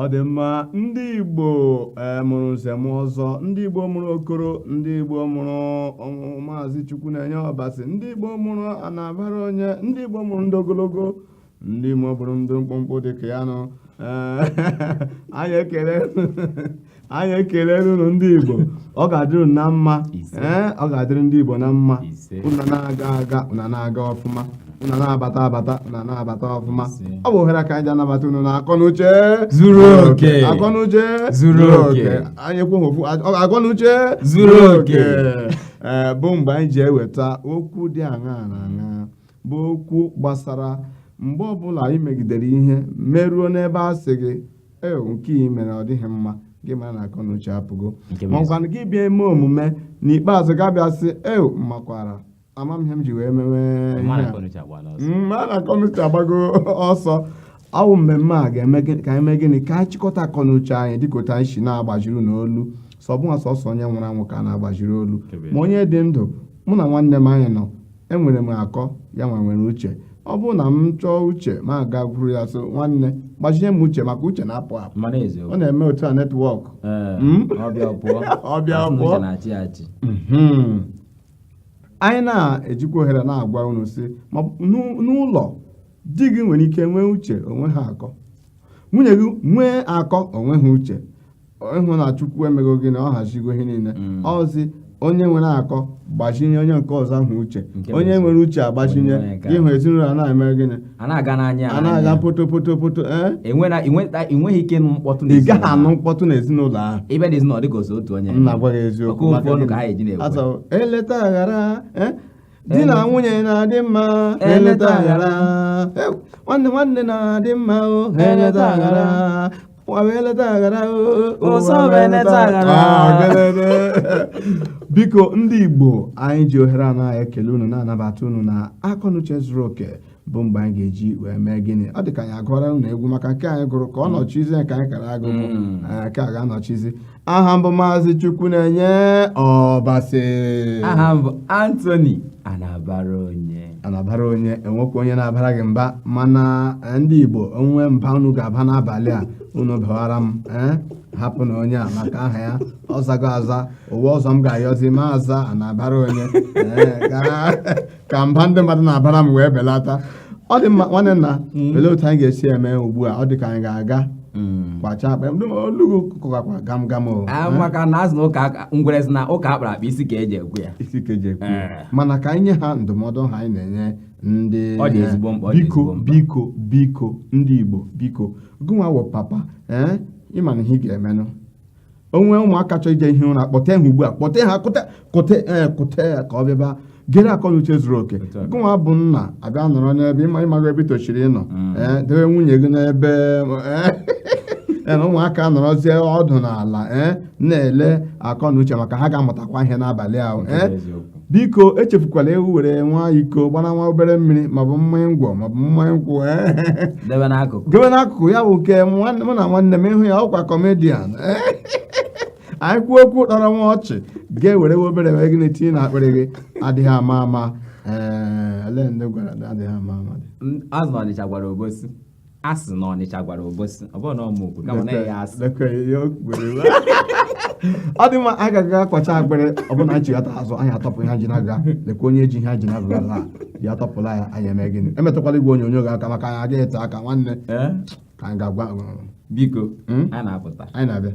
ọ dị mma ndị igbo eh, mụrụ nze na ọzọ ndị igbo mụrụ okoro ndị igbo mụrụ maazị chukwunenye ọbasi ndị igbo mụrụ anabara onye ndị igbo mụrụ ndị ogologo ndị Igbo mụrụ ndị mkpụmkpụ dị ka ya nwa anyị ekele unu ndị Igbo ọ ga-adịrị ụna mma ee ọ ga-adịrị ndị Igbo na mma ụna na-aga aga ụna na-aga ọfụma ụna na-abata abata ụna na-abata ọfụma ọ bụ ohere ka anyị ji anabata unu na akọnuche zuru oke akọnuche zuru oke anyị ekwu ofu akọnuche zuru oke bụ mgbe anyị ji eweta okwu dị aṅaa na aṅaa bụ okwu gbasara mgbe ọbụla ị megidere ihe meruo n'ebe a sị gị e nke ị mere ọ dịghị mma gị mara na akọnuche apụgo makwana gị bịa eme omume n'ikpeazụ gị abịa sị e makwara ama m ihe m ji wee mewe ma na akọnuche agbago ọsọ ọ wụ mmemme a ga-eme ka anyị mee gịnị ka anyị chịkọta akọnuche anyị dịka otu anyị si na-agbaziri n'olu sọ bụnwa sọsọ onye nwụrụ anwụ ka a na-agbaziri olu ma onye dị ndụ mụ na nwanne m anyị nọ enwere m akọ ya nwa nwere uche ọ bụrụ na m chọọ uche m agakwuru ya sị nwanne gbazinye m uche maka uche na-apụ apụ ọ na-eme otu a netwọk hmm? ọ bịa pụọ hmm. anyị na-ejikwa ohere na-agwa unu sị n'ụlọ di gị nwere ike nwee uche o nweghị akọ nwunye gị nwee akọ o nweghị uche ị hụ na chukwu emego gịnị ọ hazigo ihe niile mm. ọzi onye nwere akọ gbazinye onye nke ọzọ ahụ uche onye nwere uche agbazinye ị hụ ezinụlọ a na-eme gịnị a na-aga poto poto poto eh? ị gaghị anụ mkpọtụ n'ezinụlọ ahụ m na-agwa gị eziokwu eleta aghara eh? di na nwunye na-adị mma ha eleta aghara Ew, nwanne nwanne na-adị mma o ha eleta aghara ụwa wee eleta aghara o ụwa Ụsọ wee wee eleta eleta aghara. Ah, gelele. biko ndị igbo anyị ji ohere a na-ekele unu na-anabata unu na akọnuche zuru oke bụ mgbe anyị ga-eji wee mee gịnị ọ dị ka anyị agụọra unu egwu maka nke anyị gụrụ ka ọ nọchizi nke anyị kara agụ bụ hmm. eh, nke a ga-anọchizi aha m bụ maazị chukwunenye ọbasi aha m bụ anthony anabara onye e nwekwa onye na-abara gị mba mana eh, ndị igbo o nwe mba unu ga-aba n'abalị a unu bawara m eh, hapụnụ onye a maka aha ya ọ zago aza ụwa ọzọ m ga-ayọzi m aza anabara onye ka mba ndị mmadụ na-abara m wee belata ọ dị mma nwanne nna mm. olee otu anyị ga-esi eme ugbu a ọ dị ka anyị ga-aga mm. kwacha akpa olugo kụkakwa gam gam o ah, eh? maka na azụ na ụka ngwere si na ụka akpara akpa isi ka eji ekwu ya isi ka eji ekwu ya eh. mana ka anyị nye ha ndụmọdụ ahụ anyị na-enye ndị ọ dị ezigbo mkpa biko biko biko ndị Igbo biko gụnwa wụ papa ee eh? ịma na ihe ị ga-emenụ onwe ụmụaka chọọ ije hie ụra kpọte ha ugbu a kpọte ha kute kute ee kute ya ka ọ bịaba gere akọ na uche zuru oke Otu a. gụnwa bụ nna abịa nọrọ n'ebe ịma ịmago ebe i tosiri ịnọ Mm. ee debe nwunye gị n'ebe ee, ee, na ụmụaka anọrọzie ọdụ n'ala ee na-ele akọ na uche maka ha ga-amụtakwa ihe n'abalị ahụ Nke bụ ee eziokwu. biko echefukwala ewu were nwa iko gbara nwa obere mmiri maọbụ mmanya ngwọ maọbụ mmanya nkwụ debe n'akụkụ debe n'akụkụ ya bụ nke mụ na nwanne m ịhụ ya ọkwa kọmedian anyị kwuo okwu tọrọ nwa ọchị gị ewere obere wee gị na-etinye na akpịrị gị adịghị ama ama ee eh, olee ndị gwara adịghị ama ama a sị ọnịcha gwara obosi a sị na ọnịcha gwara obosi ọ bụrụ na ọ ma okwu kama na ya asị ọ dị mma anyị ga-aga kwacha akpịrị ọ bụrụ na anyị chighata azụ anyị atọpụ ihe ji na-aga lekwa onye ji ihe ji na-aga ala ya atọpụla ya anyị eme gịnị emetụkwala igwe onyonyo gị aka maka anyị agaghị ete aka nwanne ka anyị gawa biko hmm? anyị na-apụta anyị na-abịa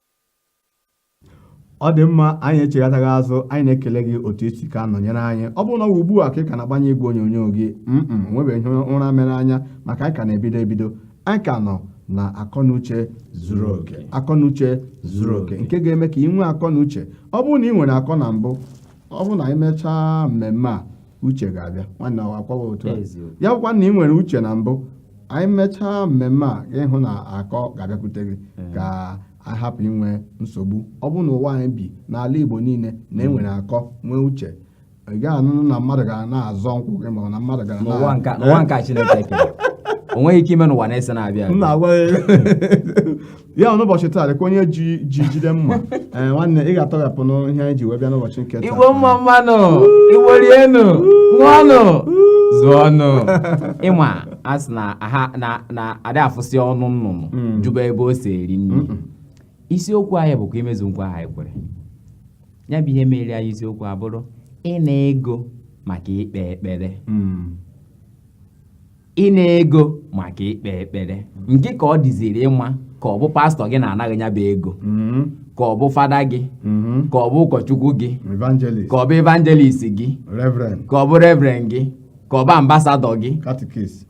ọ dị mma anyị echighatago azụ anyị na-ekele gị otu i si ka nọnyere anyị ọ bụrụ na ọ wụ ugbu a ka ị ka na-agbanye igwe onyonyo gị mm onwebeghị ihe ụra mere anya maka anyị ka na-ebido ebido anyị ka nọ na akọnuche zuru oke akọnuche zuru oke nke ga-eme ka ị nwee akọnuche ọ bụrụ na ị nwere akọ na mbụ ọ bụrụ na anyị mechaa mmemme a uche ga-abịa nwanne ọwa akwawa otu a ya bụkwa na ị nwere uche na mbụ anyị mechaa mmemme a ịhụ na akọ ga-abịakwute gị ka anyị hapụ inwe nsogbu ọ bụrụ na ụwa anyị bi n'ala Igbo niile na enwere mm. akọ nwee uche ị gaghị anụnụ na mmadụ gara na-azọ nkwụ gị ma na mmadụ gara n'ụwa nke Chineke kere onweghị ike ime n'ụwa na-ese na-abịa ya n'ụbọchị taa dịka onye ji ji jide mma ee nwanne ị ga-atọghapụnụ ihe anyị ji wee bịa n'ụbọchị nke taa igbo mma mmanụ igbo rienụ ṅụọnụ zụọnụ ịma a sị na ada afụsị ọnụ nnụnụ hmm. jụba ebe o si eri nri isiokwu anyị bụkwa imezu nkwa ahụ anyị kwere ya bụ ihe mere anyị isiokwu abụrụ ịna ego maka ikpe ekpere hmm. ịna ego maka ikpe ekpere nke ka ọ dịziri ịma ka ọ bụ pastọ gị na-ana gị nya bụ ego mm-hmm. ka ọ bụ fada gị mm-hmm. ka ọ bụ ụkọchukwu gị ka ọ bụ evangelist gị ka ọ bụ reverend gị ka ọ bụ ambasadọ gị ka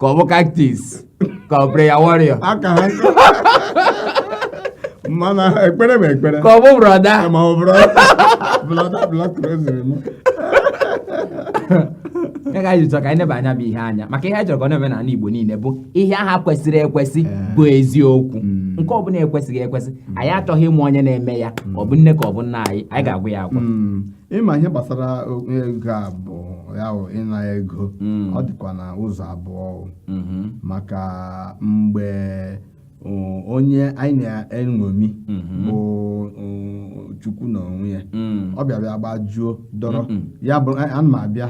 ọ bụ catechist ka ọ bụ prayer warrior m na-ekpere m ekpere ka ọ bụ brọda ya ka anyị ji chọrọ ka anyị neba nya bụ ihe anya maka ihe anyị chọrọ ka ọ na-eme n'ala Igbo niile bụ ihe aha kwesịrị ekwesị bụ eziokwu nke ọ bụla ekwesịghị ekwesị anyị achọghị ịma onye na-eme ya ọ bụ nne ka ọ bụ nna anyị anyị ga-agwa ya agwa ịma ihe gbasara ego a bụ ya bụ ịna ego ọ dịkwa na ụzọ abụọ maka mgbe onye anyị na-eṅomi mhm. bụ chukwu na onwe ya mm. ọ bịa bịa gbajuo dọrọ ya bụ ana m abịa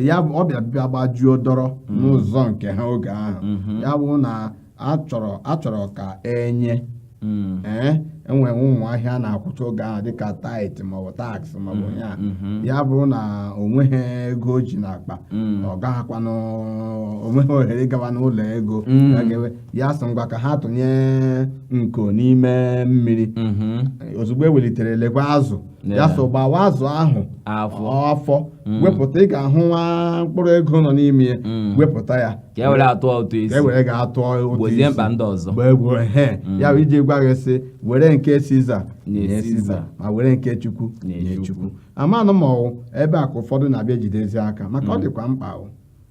ya bụ ọ bịa bịa gbajuo dọrọ mm. n'ụzọ nke ha oge ahụ mhm. ya bụrụ na achọrọ achọrọ ka enye mm. ee eh, enwere ụmụ ihe a na-akwụcha oge ahụ dịka tait maọbụ taks maọbụ ihe mm-hmm. ya bụrụ na o nweghị ego o ji n'akpa ọ gaghịkwanụ o nweghị ohere ịgawa n'ụlọ ego ya sị ngwa ka ha tụnye nko n'ime mmiri mhm. ozugbo ewelitere lekwa azụ ya sị gbawa azụ ahụ afọ mm. wepụta ị ga-ahụ nwa mkpụrụ ego nọ n'ime ya mm. wepụta ya ka e were ya tụọ ụtụ isi ka e were ga tụọ ụtụ isi mba ndị ọzọ gbegbuo he mm. ya bụ iji gwa gị sị were nke siza nye siza ma were nke chukwu nye chukwu amanụ ma ọwụ ebe a ka ụfọdụ na-abịa jidezi aka maka ọ dịkwa mkpa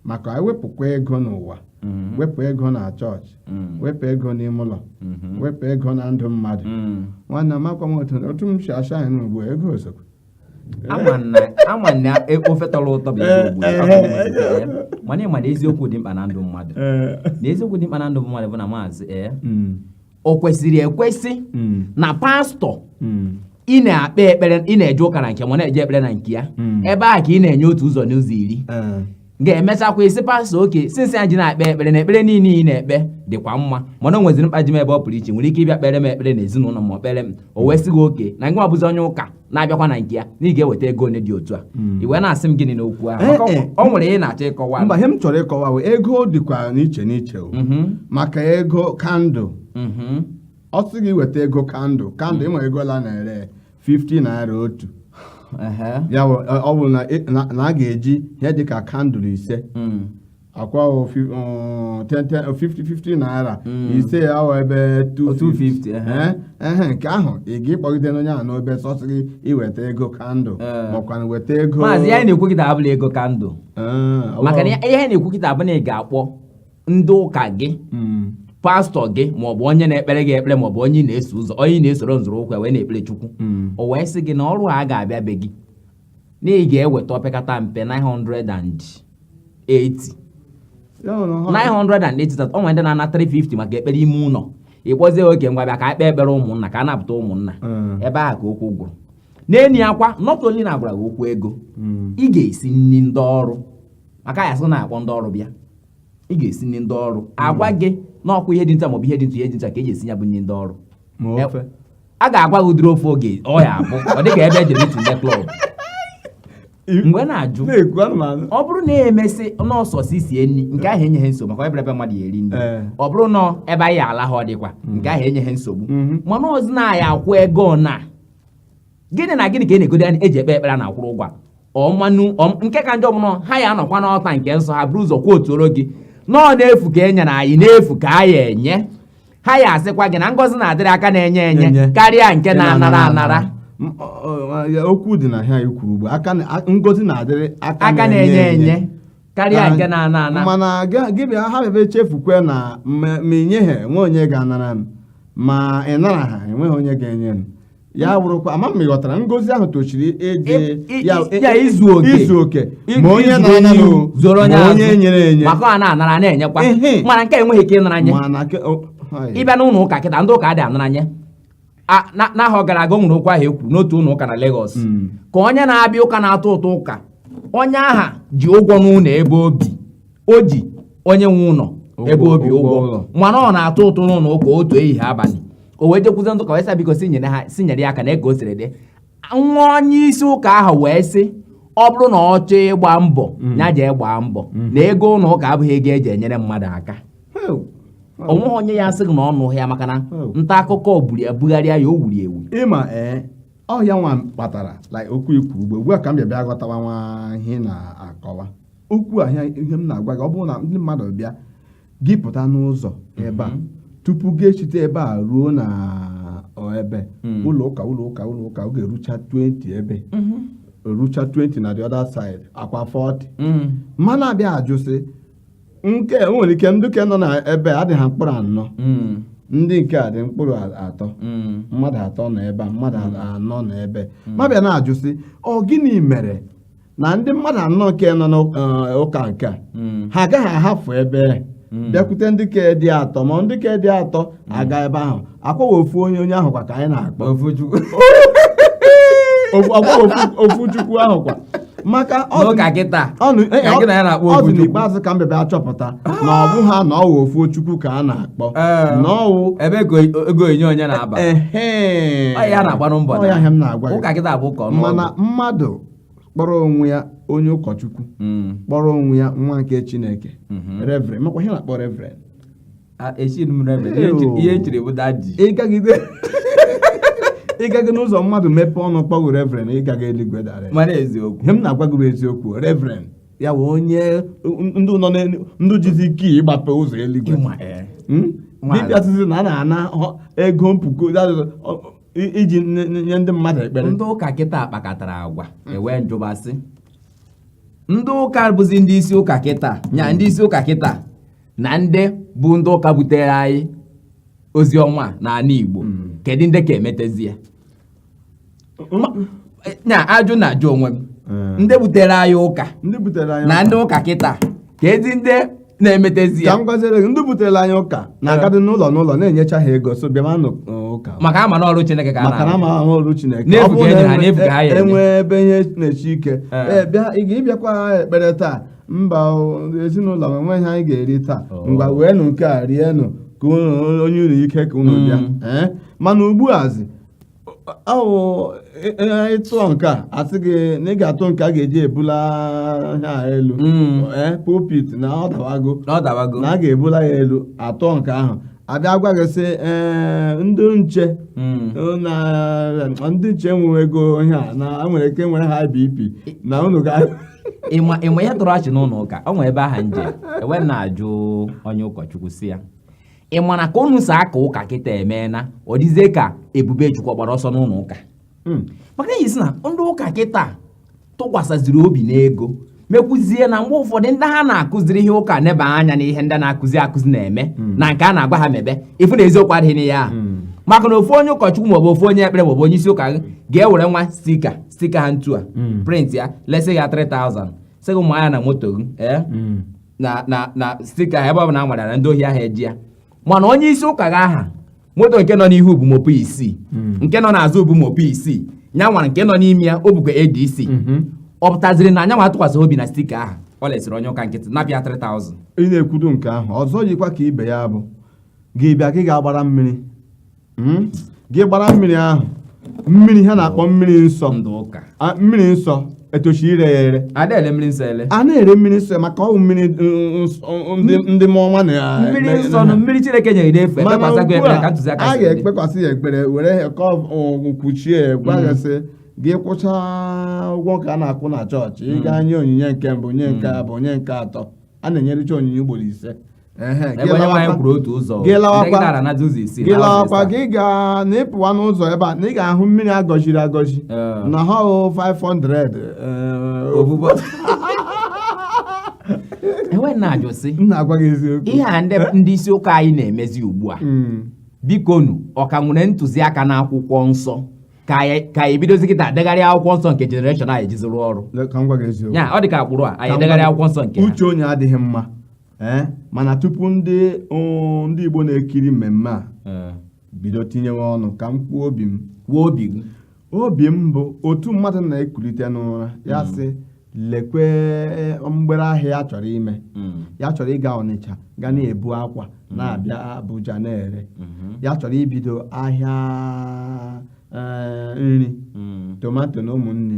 maka ewepụkwa ego n'ụwa mm-hmm. wepụ ego na chọọchị mm-hmm. wepụ ego n'ime ụlọ mm-hmm. wepụ ego na ndụ mmadụ nwanne m akwa m otu m si asa anyị n'ugbu ego osokwu ama na e, ofe tọrọ ụtọ bụ mana ịma na eziokwu dị mkpa na ndụ mmadụ na eziokwu dị mkpa na ndụ mmadụ bụ na maazị ee eh, mm. o kwesịrị ekwesị mm. na pastọ mm. ị na-ekpe ekpere ị na-eje ụka na nke ya ma na-eje ekpere na nke ya mm. ebe a ka ị na-enye otu ụzọ n'ụzọ iri eh. ga-emechakwa ị sị pastọ oke since anyị ji na-ekpe ekpere na ekpere niile ị na-ekpe dịkwa mma mana o nweziri mkpa ji m ebe ọ pụrụ iche nwere ike ịbịa kpere m ekpere na ezinụlọ ma kpere m o wee sị gị oke na gị nwa bụzi onye ụka na-abịakwa na nke ya na ị ga-eweta ego one dị otu a hmm. i wee na-asị m gịnị n'okwu ahụ eh, eh. ọ nwere ihe ị na-achọ ịkọwa mba ihe m chọrọ ịkọwa bụ ego dịkwa n'iche n'iche mm-hmm. maka ego kandụl mm-hmm. ọ sị gị weta ego kandụl kandụl ịnwe ego ole a na-ere 50 naira otu ya ọ bụrụ na a ga-eji ihe dịka kandụl ise hmm. akwa 50-50 um, naira hmm. ise ya awụ ebe 250 ehe nke ahụ ị ga-ịkpọgide n'onye ahụ n'obe ọ sị gị weta ego kandụl eh. makwana weta ego maazị ya na-ekwu kịta abụla ego kandụl eh, maka na ihe a na-ekwu kịta bụ na ị ga-akpọ ndị ụka gị hmm. pastọ gị maọbụ onye na-ekpere gị ekpere maọbụ onye na-eso ụzọ onye na-esoro nzọrọ ụkwụ wee na-ekpere chukwu hmm. o wee sị gị na ọrụ a ga-abịa be gị na ị ga-eweta opekata mpe 900 and 80 980 o nwere ndị na-ana 350 maka ekpere ime ụlọ ị kpọzie oku ngwa bịa ka e kpee ekpere ụmụnna ka a napụta ụmụnna mm. ebe ahụ ka okwu gwụrụ n'enyi akwa not only na agwara gị okwu ego mm. ị ga-esi nri ndị ọrụ maka ha sị na-akpọ ndị ọrụ bịa ị ga-esi nri ndị ọrụ mm. agwa gị na ọkwa ihe dị nta maọbụ ihe dị nta ihe dị nta ka e ji esi ya bụ nri ndị ọrụ a ga-agwa gị ụdịrị ofe oge ọ ya abụ ọ dịka ebe ejere itinye klọb mgbe na-ajụ ọ bụrụ na emesị na ọ sọsọ isi nri nke ahụ enyeghị nsogbu maka ebe mmadụ ya eri nri eh. ọ bụrụ na ebe anyị ala ha ọ dịkwa mm-hmm. nke ahụ enyeghị nsogbu mm-hmm. mana ọ zị na a ya akwụ ego na gịnị na gịnị ka ị na-egode eji ekpe ekpere na akwụrụ ụgwọ ọmanụ nke ka njọ bụ na ha ya anọkwa n'ọlta nke nsọ ha bụrụ ụzọ kwuotuoro gị na ọ n'efu ka e nyere anyị n'efu ka a ya enye ha ya asịkwa gị na ngọzi na-adịrị aka na-enye enye Enye. karịa nke na-anara anara M- ọ- ọ- ya- okwu dị na ihe i kwuru ugbu a na- a- ngọzi na-adịrị aka na-enye enye karịa Na- nke na-ana ana mana gị- gị bịa ha bịa chefukwe na ma ma i nyeghị enwe onye ga-anara m ma ị naraha enweghị onye ga-enye m ya wụrụkwa ama m ghọtara ngọzi ahụ tochiri ịdị ya izu oke izu oke ma onye na-ana zoro onye azụ onye nyere enye maka ọ na-anara na-enyekwa mana nke enweghị ike ịnara nye ị bịa n'ụlọ ụka kịta ndị ụka adị anara nye n'ahọ gara aga o nwere okwu ahụ e kwuru n'otu ụlọ ụka na Lagos hmm. ka onye na-abịa ụka na-atụ ụtụ ụka onye ahụ ji ụgwọ n'ụlọ ebe o bi o ji onye nwe ụlọ ebe o bi ụgwọ mana ọ na-atụ ụtụ n'ụlọ ụka otu ehihie abalị o wee jekwuzie ndị ụka wee sị biko si nyere ha si nyere ya aka nee ka o siri dị nwa onye isi ụka ahụ wee sị ọ bụrụ na ọ chọọ ịgba mbọ ya jee gbaa mbọ na ego ụlọ ụka abụghị ego eji enyere mmadụ aka o nweghị onye ya asị gị na ọ nụghị ya maka na nta akụkọ buru ya bugharịa ya o wuru ewu ịma ee ọ ihe a nwa kpatara like okwu i kwu ugbu a ka m bịa bịa ghọtawa nwa ihe ị na-akọwa okwu a ihe ihe m na-agwa gị ọ bụrụ na ndị mmadụ bịa gị pụta n'ụzọ ebe a tupu gị esite ebe a ruo na ọ, ebe Mm. ụlọ ụka ụlọ ụka ụlọ ụka ọ ga-erucha 20 ebe erucha 20 na the other side akwa 40 Mm. mana a bịa ajụsị nke o nwere ike ndị ke nọ na ebe a adịghị mkpụrụ anọ Mm. ndị nke a dị mkpụrụ a- atọ Mm. mmadụ atọ nọ ebe a mmadụ anọ nọ ebe ma bịa na-ajụsị ọ gịnị mere na ndị mmadụ anọ nke nọ n'ụka nke a hmm. ha agaghị ahapụ ebe hmm. bịakwute ndị ke dị atọ ma ndị ke dị atọ hmm. aga ebe ahụ ọkwa ọwụ ofu onye onye ahụ kwa ka anyị na-akpọ ofu chukwu ahụ kwa maka ọ dị n'ikpeazụ ka m bebe achọpụta na ọ bụghị na ọwụ ofu chukwu ka a na-akpọ eh. na ọwụ ebe ego onye onye na-aba ya na-agbanụ mbọ ya m na-agwa mana mmadụ kpọrọ onwe ya onye ụkọchukwu hmm. kpọrọ onwe ya nwa nke chineke hmm. reverend makwa ihe a na-akpọ reverend ihe e chiri bụ daji ịgaghị n'ụzọ mmadụ mepee ọnụ kpọọ gị reverend ịgaghị eluigwe direct mana eziokwu ihe m na-agwa gị bụ eziokwu reverend ya bụ onye ndu jizi ike ịgbape ụzọ eluigwe eh. hmm? ị bịa sịzi na a na-ana ego mpuku i- iji nye- nye nye ndị mmadụ ekpere ndị ụka kịta kpakọtara agwa ewee m jụba sị ndị ụka bụzi ndị isi ụka kịta nya ndị isi ụka kịta na ndị bụ ndị ụka butere anyị ozi ọma n'ala igbo kedu ndị ka emetezi ya nya ajụ na-ajụ onwe m Mm. ndị butere anyị ụka ndị butere anyị na ndị ụka kịta kedu ndị na-emetezi ya ka m gwaziere gị ndị butere anyị ụka na-agadị n'ụlọ n'ụlọ na-enyecha ha ego so bịa manụ ụka maka ama na ọrụ Chineke ka maka na ama ahụ ọrụ Chineke ọ bụrụ na e- enwe ebe ihe na-esi ike ee bịa ị ga-abịakwa ekpere taa mba ezinụlọ m enweghị ihe anyị ga-eri taa oh. ngwa weenụ nke a rienụ ka o nye unu ike ka unu bịa mm. mana ugbu azi ọwụ ị tụọ nke a a sị gị na ị ga-atụ nke a ga-eji ebula ha elu mm. eh, pulpit na ọ dawago na a ga-ebula ya elu a tụọ nke ahụ a bịa gwa gị sị eh, ndị nche mm. eh, ndị nche nwewego ihe a na nwere ike nwere high BP na unu ga ị ma ihe tọrọ ọchị n'ụlọ ụka o nwere ebe ahụ m jee wee na-ajụ onye ụkọchukwu sị ya ị ma na ka unu si aka ụka kịta emeena ọ dịzie ka ebube chukwu gbara ọsọ n'ụlọ ụka hmm. maka na isi na ndị ụka kịta tụkwasaziri obi n'ego mekwuzie na mgbe ụfọdụ ndị ha na-akụziri ihe ụka neba anya n'ihe ndị na-akụzi akụzi na-eme hmm. na nke a na-agwa ha mebe ịfụ na eziokwu adịghị n'ihe ahụ hmm. maka na ofu onye ụkọchukwu maọbụ ofu onye ekpere maọbụ onye isi ụka gị ga-ewere nwa sticker sticker ha ntu a hmm. print ya lesi ya 3000 sị gị manye ya na moto gị ee eh? na na na sticker ahụ ebe ọ bụla nwara na ndị ohi agaghị eji ya mana onye isi ụka gị ahụ moto nke nọ n'ihu bu mopol isii hmm. nke nọ n'azụ bu mopol isii nya nwara nke nọ n'ime ya o bukwa ADC mhm. ọ pụtaziri na nya nwa atụkwasịghị obi na sticker ahụ o lesiri onye ụka nkịtị naịra 3000 ị na-ekwudo nke ahụ ọzọ yikwa ka ibe ya bụ gị bịa gị ga-agbara mmiri hmm? gị gbara mmiri ahụ mmiri ha na-akpọ mmiri nsọ mmiri nsọ etoshi ire ya ere a na-ere mmiri nsọ ere a na-ere mmiri nsọ maka ọ wụ mmiri ndị mọnwa na mmiri nsọ na mmiri chineke nyere n'efu e kpekwasịgo ekpere ka ntụziaka a ga-ekpekwasị ya ekpere were ya ka ọgwụ kwuchie gwa ya sị gị kwụcha ụgwọ ka a na-akwụ na chọọchị ị gaa hmm. nye onyinye nke mbụ nye nke hmm. abụọ nye nke atọ a na-enyericha onyinye ugboro ise gị lawakwa gị ga na ị pụwa n'ụzọ ebe a na ị ga-ahụ mmiri a gọziri agọzi naira 500 e wee na-ajụ sị ihe a ndị isi ụka anyị na-emezi ugbu a hmm. bikonụ ọ ka nwere ntụziaka na akwụkwọ nsọ ka anyị bidozie kịta degharịa akwụkwọ nsọ nke generation anyị jiziri ọrụ ya ọ dị ka agbụrụ a anyị degharịa akwụkwọ nsọ nke uche onye adịghị mma ee eh, mana tupu ndị ndị Igbo na-ekiri mmemme a eh. bido tinyewe ọnụ ka m kwuo obi m kwuo obi gị obi m bụ otu mmadụ na-ekulite n'ụra ya hmm. sị lekwe eh, mgbere ahịa ya chọrọ ime hmm. ya chọrọ ịga Ọnịcha ga na-ebu akwa hmm. na-abịa Abuja na-ere ya chọrọ ibido ahịa nri tomato na ụmụnne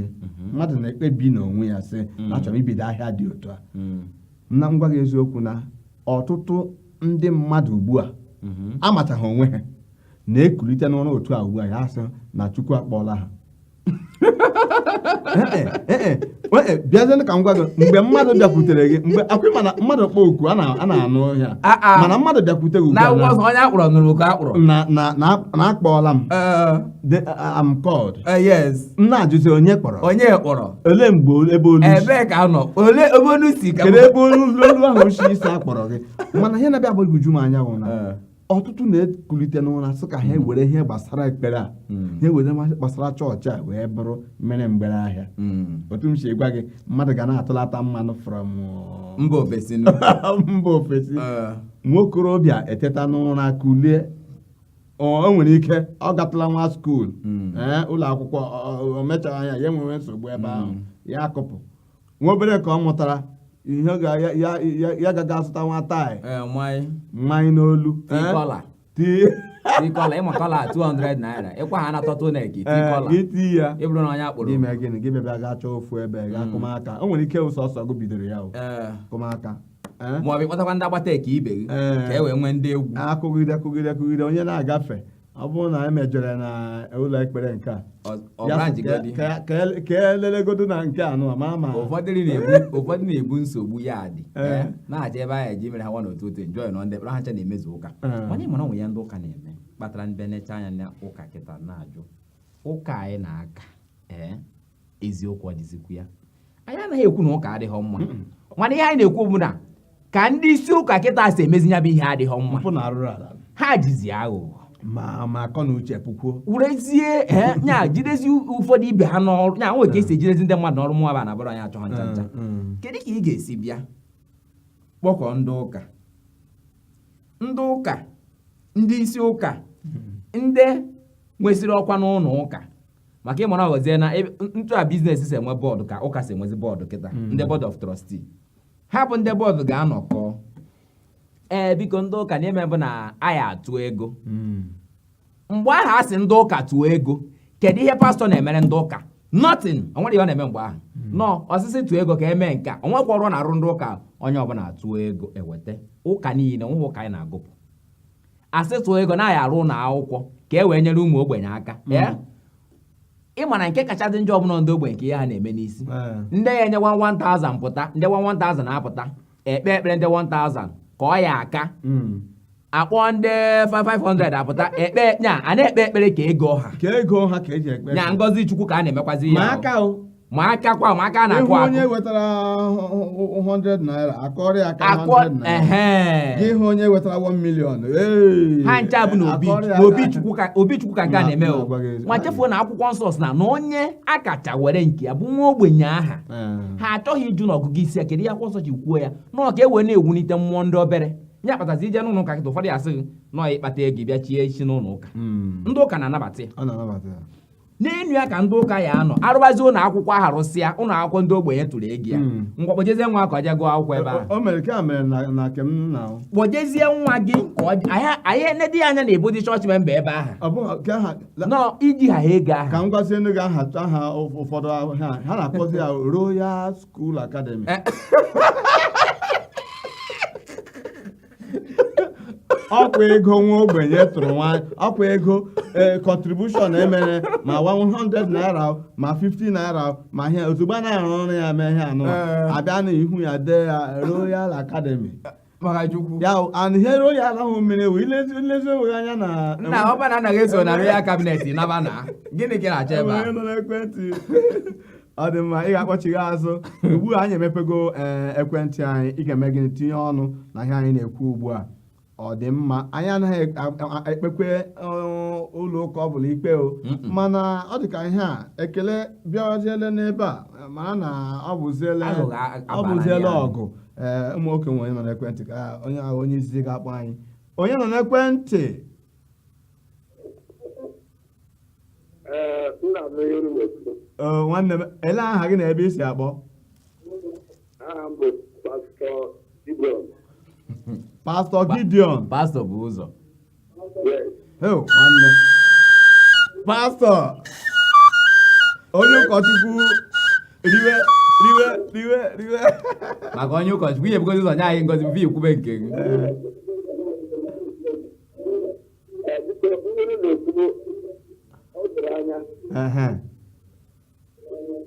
mmadụ na-ekpebi n'onwe ya sị na a chọrọ ibido ahịa dị otu a na m gwa gị eziokwu na ọtụtụ ndị mmadụ ugbu a mhm. amachaghị onwe ha na-ekulite n'ụra otu a ugbu a ya sị na Chukwu akpọọla ha eh, eh, eh, bịazie ka m gwa gị mgbe mmadụ bịakwutere gị mgbe akwụ mana mmadụ kpọọ oku a na-anụ ya ah, ah. mana mmadụ bịakwute gị ugbu a na a kpọọla m The, uh, I'm called. Eh, yes M na-ajụzi onye kpọrọ. onye kpọrọ Olee mgbe ol- ebe olu si? ebee ka a nọ ole ebe olu si ka Kedu ebe olu olu ahụ si isi akpọrọ gị? Mana ihe na-abịa agbagwoju m anya bụ na Eh. ọtụtụ na-ekulite n'ụra sị ka ha were ihe gbasara ekpere a Mm. ha were ma- gbasara chọọchị a wee bụrụ mere mgbere ahịa Mm. otu m si gwa gị mmadụ ga na-atụlata mmanụ from uh, mba ofesi nụ. mba ofesi Eh. nwokorobịa eteta n'ụra kulie o nwere ike ọ gatụla nwa skuul hmm. ee ụlọ akwụkwọ o mechara anya ya enwewe nsogbu ebe hmm. ahụ ya akụpụ nwa obere ka ọ mụtara ihe ya aga azụta nwa tie manye n'olu tie collar ị ma collar 200 naira ịkwa ha na tọtụ na eki tie collar i tie ya ị bụrụ na onye a kpọrọ gị mee gịnị gị bịa gaa chọọ ofu ebe gaa kụma aka hmm. o nwere ike ọ sọsọ gị bidoro ya ọ kụma aka Eh? ma ọ bụ ịkpọtakwa ndị agbata ekee ibe gị Eh. ka e wee nwee ndị egwu akụgide akụgide akụgide onye na-agafe ọ bụrụ na m ejeru na ụlọ ekpere nke a Ọ- ọ ya bụrụ sị njigodi. ka- ka- ka ele- ka elelegodu na nke a nụ ma ma ụfọdụ ndị na-ebu- ụfọdụ na-ebu nsogbu ya dị Eh. eh, na-aja ebe ahụ eji mere ha nwa n'otu otu enjoy nọ ndị ha ncha na-emezu ụka Eh. ị ma na o nwe ihe ndị ụka na-eme kpatara ndị nechaa anya na ụka kịta na-ajụ ụka anyị na-aka ee eziokwu ọ dịzikwu ya anyị anaghị ekwu na ụka adịghị mma mana ihe anyị na-ekwu bụ na ka ndị isi ụka kịta si emezi ya bụ ihe adịghị mma mpụ na arụrụ ala ha jizi aghụghọ ma ma akọ na uche pụkwuo werezie eh, nya jidezi ụfọdụ ibe ha n'ọrụ nya nwere ka esi ejidezi ndị mmadụ n'ọrụ mụwa ba na abụrụ anyị achọghị ncha ncha Mm, kedu ka ị ga-esi bịa kpọkọ ndị ụka ndị ụka ndị isi ụka ndị nwesịrị ọkwa n'ụlọ ụka maka ị mara ọ ghọzie na etu a biznes si enwe bọọdụ ka ụka si enwezi bọọdụ kịta hmm. ndị board of trustee ha bụ ndị bọọdụ ga-anọkọ ee biko ndị ụka na-eme bụ na a ya-atụ ego hmm. mgbe ahụ a sị ndị ụka tụọ ego kedu ihe pastọ na-emere ndị ụka nothing o nwere ihe ọ na-eme mgbe ahụ hmm. nọ ọ sị sị tụọ ego ka e mee nke a o nwekwa ọrụ a na-arụ ndị ụka onye ọbụla tụọ ego eweta ụka niile nweghị ụka anyị na-agụpụ a sị tụọ ego na a ya-arụ ụlọ akwụkwọ ka e wee nyere ụmụ ogbenye aka mm. eh? ị ma na nke kacha dị njọ ọ bụ na ndị ogbenye ka ihe ha na-eme n'isi eh. ndị ya enye 1000 pụta ndị 1000 apụta ekpe ekpere ndị 1000 ka ọ ya aka mm. a kpọọ ndị 500 apụta ekpe nya a na-ekpe ekpere ka ego ha ka ego ha ka eji ekpe nya ngozi chukwu ka a na-emekwazi ya aka ma aka kwa ma aka na-akụ akụ onye wetara 100 naira a kụọrọ ya aka 100 naira gị hụ onye wetara 1 million ha ncha bụ na obi chukwu ka nke a na-eme o ma chefuo na akwụkwọ nsọ sị na na onye a kacha were nke ya bụ nwa ogbenye aha ha achọghị ịjụ na ọgụgụ isi ya kedu ihe akwụkwọ nsọ ji kwuo ya na ọ ka e wee na-ewulite mmụọ ndị obere ihe kpatazi i je n'ụlọ ụka kịta ụfọdụ ya-asị gị na ọ ịkpata ego bịa chie isi n'ụlọ ụka hmm. ndị ụka na-anabata ya n'enu ya ka ndị ụka ya-anọ arụbazi ụlọ akwụkwọ ahụ arụsịa ụlọ akwụkwọ ndị ogbenye tụrụ ego ya hmm. ngwa kpọjezie nwa ka ọ jee gụọ akwụkwọ ebe ahụ kpọjezie nwa gị a ya-enedi gị anya na ị bụdi chọọchị memba ebe ahụ na i jighị ego ahụ ka m gwazie ndị ga aha aha ụfọdụ ha na-akpọzi ya Royal School Academy eh. ọkwa ego nwa ogbenye tụrụ nwaanyị ọkwa ego ee contribution e mere ma 100 naira o, ma 50 naira o, ma ihe ozugbo a na-arụ ọrụ ya mee ihe anụ Ee. a bịa n'ihu ya dee ya royal academy maka chukwu ya o, and ihe royal ahụ mere wee i lezi i lezi onwe gị anya na nna ọ bụrụ na anaghị eso na royal cabinet naba na gịnị ka ị na-achọ ebe a Enwere nọ n'ekwentị ọ dị mma ị ga-akpọchigha azụ ugbu a anyị emepego ee eh, ekwentị anyị ị ga-eme gịnị tinye ọnụ na ihe anyị na-ekwu ugbu a ọ dị mma anyị anaghị ekpekwe eh, ụlọ ụka ọ bụla ikpe o mana ọ dị ka ihe a ekele bịaziele n'ebe a eh, mara na ọ bụziele ọgụ ee ụmụ nwoke nwe onye nọ n'ekwentị ka anyị hụ onye izizi ga-akpọ anyị onye nọ n'ekwentị nwanne m ele aha gị na ebe i si akpọ pastọ gideon pastọ bụ ụzọ nwanne pastọ onye ụkọchukwu riwe riwe riwe riwe maka onye ụkọchukwu ihe bugozi ụzọ nye anyị ngozi before i kwube nke gị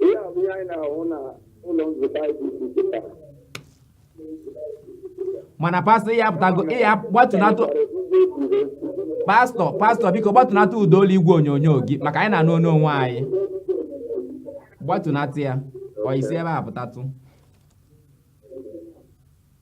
ihe a bụ ihe anyị na-ahụ na ụlọ nzukọ mana pastọ ihe apụtago ihe gbatunatụ pastọ pastọ biko gbatunatụ ụda olu igwe onyonyo gị maka anyị na-anụ onu onwe anyị gbatunatụ ya or i si ebe a pụtatụ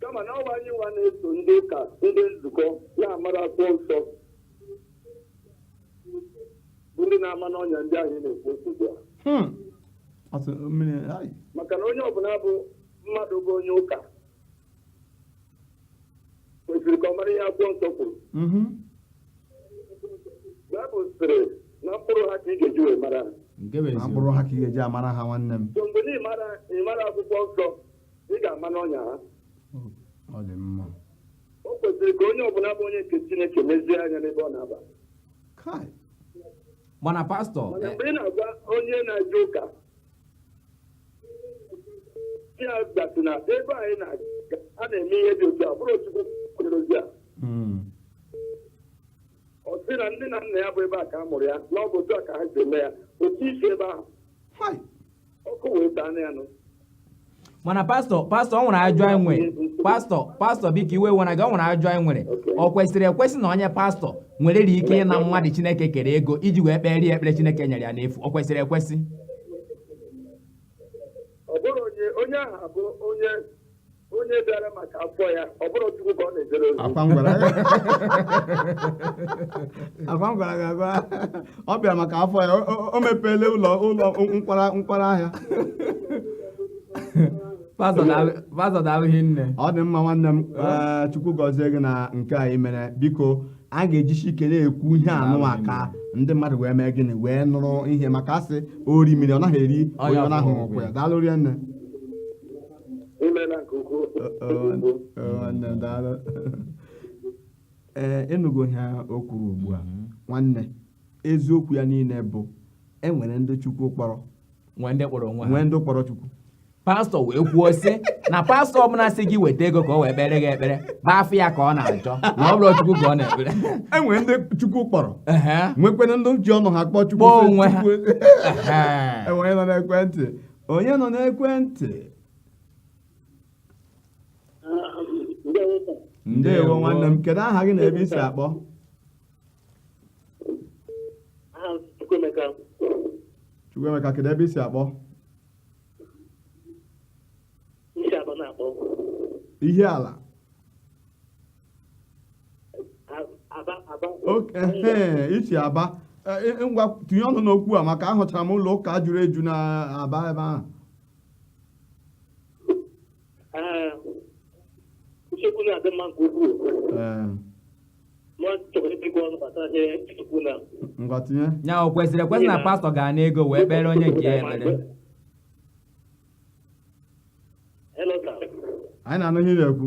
kama na ọ wụ anyị nwa na-eso ndị ụka ndị nzukọ na-amarọ akwụkwọ nsọ bụ ndị na-ama n'ọnya ndị anyị na-ekwu okwu ugbu a Hmm. Ọtụ mmiri ai. maka na onye ọbụla bụ mmadụ bụ onye ụka kwesịrị ka ọ mara ihe akwụkwọ nsọ kwuru Mhm. baịbụl sịrị na mkpụrụ ha ka ị ga-eji wee mara ha. nke bụ Na eziokwu mkpụrụ ha ka ị ga-eji amara ha nwanne m so mgbe na ị marọ ị marọ akwụkwọ nsọ ị ga-ama n'ọnya ha ọ dị mma o kwesịrị ka onye ọbụla bụ onye nke chineke nezie anya n'ebe ọ na-aba kai mana pastọ mana mgbe ị na-agwa onye na-eje ụka sị ya datụ na ebe anyị na-aga a na-eme ihe dị otu a abụrọ chukwu zi ya mm, ọ sị na ndị nna nna ya bụ ebe a ka a mụrụ ya na ọ bụ otu a ka ha si eme ya otu isi ebe ahụ hai ọkụ wee taa na ya nụ mana pastọ pastọ o nwere ajụjụ anyị nwere pastọ pastọ biko iwe wena gị o nwere ajụjụ anyị nwere o kwesịrị ekwesị na onye pastọ nwere ri ike ịna mmadụ chineke kere ego iji wee kpere ya ekpere chineke nyere ya n'efu o kwesịrị ekwesị ọ bụrụ onye onye ahụ abụ onye onye bịara maka afọ ya ọ bụrọ chukwu ka ọ na-ejere ozi akwa m gwara gị agwa ọ bịara maka afọ ya o- o- o mepeele ụlọ nkwara ahịa pastọ daalụ- pastọ daalụ hinne ọ dị mma nwanne m ee, chukwu gọzie gị na nke i mere biko a ga-ejisi ike na-ekwu ihe anụwa ka ndị mmadụ wee mee gịnị wee nụrụ ihe maka a sị orimiri ọ naghị eri onye ọ na-ahụghị ụkwụ ya. daalụ rinne imela nke ukwuu nwanne daalụ ee ịnụgo ihe o kwuru ugbu a nwanne eziokwu ya niile bụ e nwere ndị chukwu kpọrọ nwee ndị kpọrọ onwe ha nwee ndị kpọrọ chukwu pastọ wee kwuo sị na pastọ ọbụla sị gị weta ego ka o wee kpere gị ekpere bụ afọ ya ka ọ na-achọ na ọ bụrọ chukwu ka ọ na-ekpere e nwere ndị chukwu kpọrọ Ehe. nwekwena ndị ji ọnụ ha kpọọ chukwu Kpọọ onwe ha. Chukwu- Ehe. onye nọ n'ekwentị Onye nọ n'ekwentị? Ndewo nwanne m. Kedu aha gị na ebe i si akpọ? Chukwuemeka, kedu ebe i si akpọ? Ihiala. i si aba e, e, e, ngwa tinye ọnụ n'okwu a maka ahụchara m ụlọ ụka juru eju na aba ebe ahụ ngwa tinye ya o kwesịrị ekwesị na pastọ ga-ana ego wee kpere onye nke ya ekpere anyị na-anụ ihe ị na-ekwu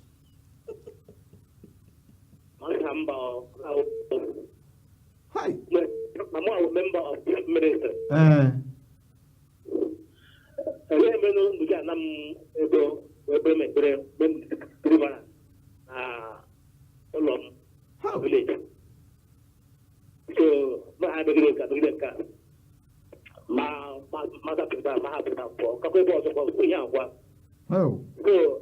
Hi. Mama was member of the minister. Eh. Ele ebe no ndu ja nam ebe ebe me ebe me ebe ba. Ah. Olom. How? Village. So, ma ha be gele ka be gele ka. Ma ma ma ka pe ba ma ha pe ba ko. Ka ko bo so ko ku ya kwa. How? So,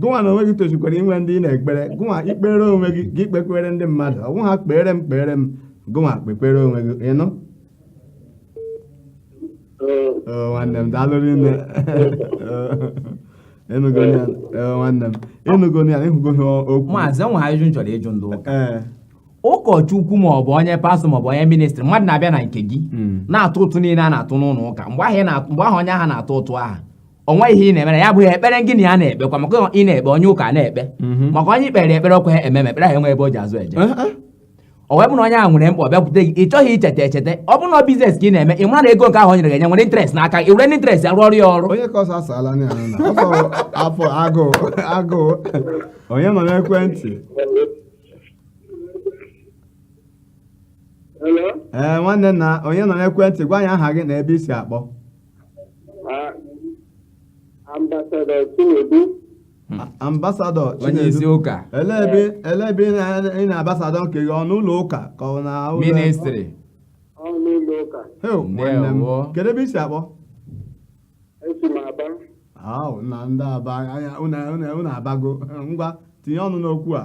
gụnwa na onwe gị tosikwara inwe ndị ị na-ekpere gụnwa i kpeere onwe gị gị kpekwere ndị mmadụ ọ bụghị kpeere m kpeere m gụnwa kpekwere onwe gị ịnụ nwanne m daalụ rinne ịnụgo nwanne m ịnụgo ya ịhụgo ihe okwu maazị e nwere ajụjụ m chọrọ ịjụ ndị ụka ụkọchukwu ma ọ bụ onye pastọ ma ọ bụ onye ministri mmadụ na-abịa na nke gị hmm. na-atụ ụtụ niile a na-atụ n'ụlọ ụka mgbe ahụ onye ahụ na-atụ ụtụ ahụ o nweghị ihe ị na-emere ya na-abụghị ekpere gị na ya na-ekpekwa maka ị na-ekpe onye ụka na-ekpe maka onye i kpeere ekpere ọkwa ị mara ekpere ahụ enwe ebe o ji azụ eje ọ wee bụ na onye ahụ nwere mkpa ọ bịakwute gị ị chọghị icheta echeta ọ bụrụ na biznes ka ị na-eme ị mara na ego nke ahụ o nyere gị enye nwere interest na ka i were interest rụọrọ ya ọrụ onye ka ọsọ asala na ya na afọ agụụ onye nọ n'ekwentị Hello? ee nwanne nna onye nọ n'ekwentị gwa anyị aha gị na ebe i si akpọ ambasadọ Chinedu ambasadọ onye isi Chinedu ụka ele ebe ele ebe ị na- ị na-ambasadọ nke gị ọ n'ụlọ ụka ka ọ na ụlọ ministri ọ n'ụlọ ụka Heu, nwanne m Ndewo. kedu ebe i si akpọ esi m Aba ahụ na ndị Aba anya unu unu- unu abago ngwa tinye ọnụ n'okwu a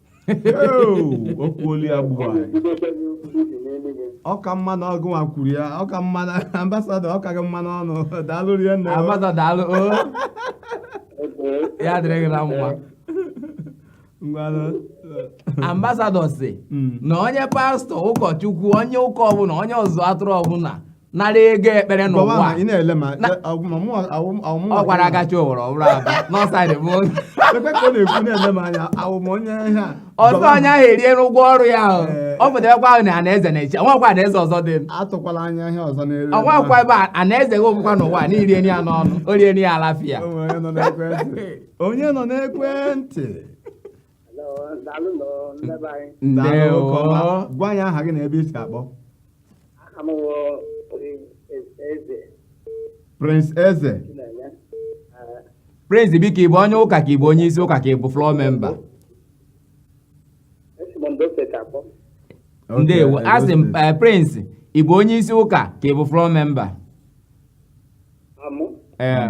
okwuolu ya gburu anyị ọ ka mma na ọ gị nwa kwuru ya ọ ka mma na ambasadọ ọ ka gị mma n'ọnụ daalụ rinne ambasadọ daalụ o ya dịrị gị na mma ngwanụ ambasadọ sị Mm. na onye pastọ ụkọchukwu onye ụka ọbụla onye ọzụzụ atụrụ ọbụla nara ego ekpere Gọwa n'ụwa ma ị na-ele ma Na- ọgwụ ma mụ awụ awụ ọ gwara agachi owere ọbụrụ aba n'ọsaịdị bụ onye Ekwe ka ọ na-ekwu na-ele m anya awụ m onye ihe a. ọzọ Gọwa onye ahụ eriela ụgwọ ọrụ ya ahụ Ee. ọ pụtarakwa ahụ na anaeze na-eche o nwekwa anaeze ọzọ dị m atụkwala anya ihe ọzọ n'elu ebe ọnwakwa ahụ. ebe a anaeze gị ọ bụkwa n'ụwa na i rieni ya n'ọnụ o rieni ya alafia O nwere onye nọ n'ekwentị. onye nọ n'ekwentị ndewo gwa anyị aha gị na ebe i si akpọ Prince Eze Prince biko ị bụ onye ụka ka ị bụ onye isi ụka ka ị bụ floor member ndewo asị m eh, Prince ị bụ onye isi ụka ka ị bụ floor member ee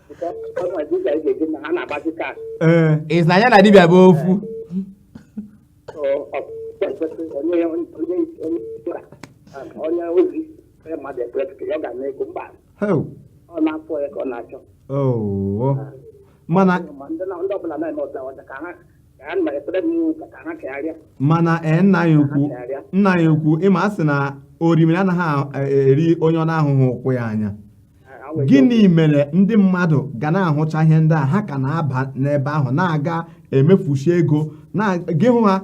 ị sị na ya na dibịa bụ ofu Heo. Oo. mana mana ee nna anyị ukwu nna anyị ukwu ị ma a sị na orimiri anaghị a- eri onye ọ na-ahụghị ụkwụ ya anya gịnị mere ndị mmadụ ga na-ahụcha ihe ndị a ha ka na-aba n'ebe ahụ na-aga emefusi ego na gị hụ ha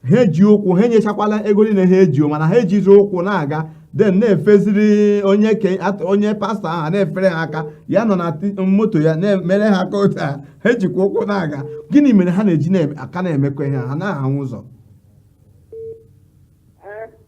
ha eji ụkwụ ha enyechakwala ego niile ha eji mana ha ejizi ụkwụ na-aga den na-efeziri onye pastọ ahụ na-efere ha aka ya nọ na moto ya na-emere ha aka otu a ha ejikwa ụkwụ na-aga gịnị mere ha na-eji aka na-eme ka ihe ha anaghị ahụ ụzọ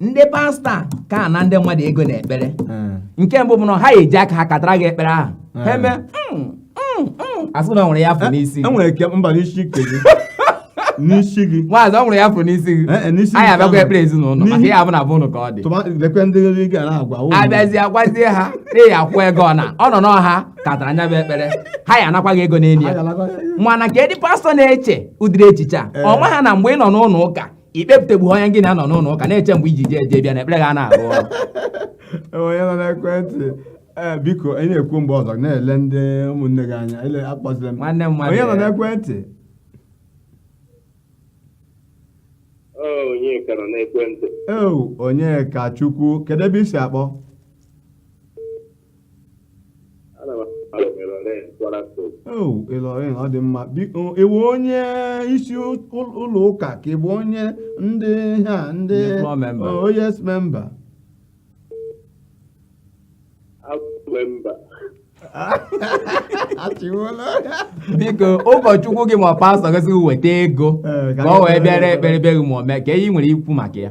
ndị pastọ ka ana ndị mmadụ ego na ekpere hmm. nke mbụ bụ na ha eji aka ha katara gị ekpere ahụ hmm. ha eme hmm, asị na o nwere ihe a fụ eh, n'isi e nwere ike mba n'isi nke gị n'isi gị maazị o nwere ihe a fụ n'isi gị eh, eh, anyị abịakwa ekpere ezinụlọ maka ya abụ na bụ ụnụ ka ọ dị abịazi agwazie ha ị ya-akwụ ego ọ na ọ n'ọnụ ha katara nya bụ ekpere ha ya-anakwa gị ego n'elu ya mana ka ndị pastọ na-eche ụdịrị echiche a ọ ma ha na mgbe ị nọ n'ụlọ ụka ikpepụtegbu onye gị na ya nọ n'ụlọ ụka na-eche mgbe i ji jee jee bịa na ekpere gị a na-arụ ọrụ onye nọ n'ekwentị ee biko anyị na-ekwu mgbe ọzọ na-ele ndị ụmụnne gị anya ele akpọzila m nwanne m mmadụ onye nọ n'ekwentị Ọ onye ka nọ n'ekwentị ee Onyekachukwu kedu ebe i si akpọ o Ilorin ọ dị mma biko ị wụ onye isi ụlọ ụka ka ị bụ onye ndị ha ndị Ndị floor member. oh, yes member actually biko ụkọchukwu gị ma pastọ gị sị gị weta ego Ee, ka ọ wee bịa ọrụ ekpere be gị ma ọ mee kee ihe ị nwere ikwu maka ya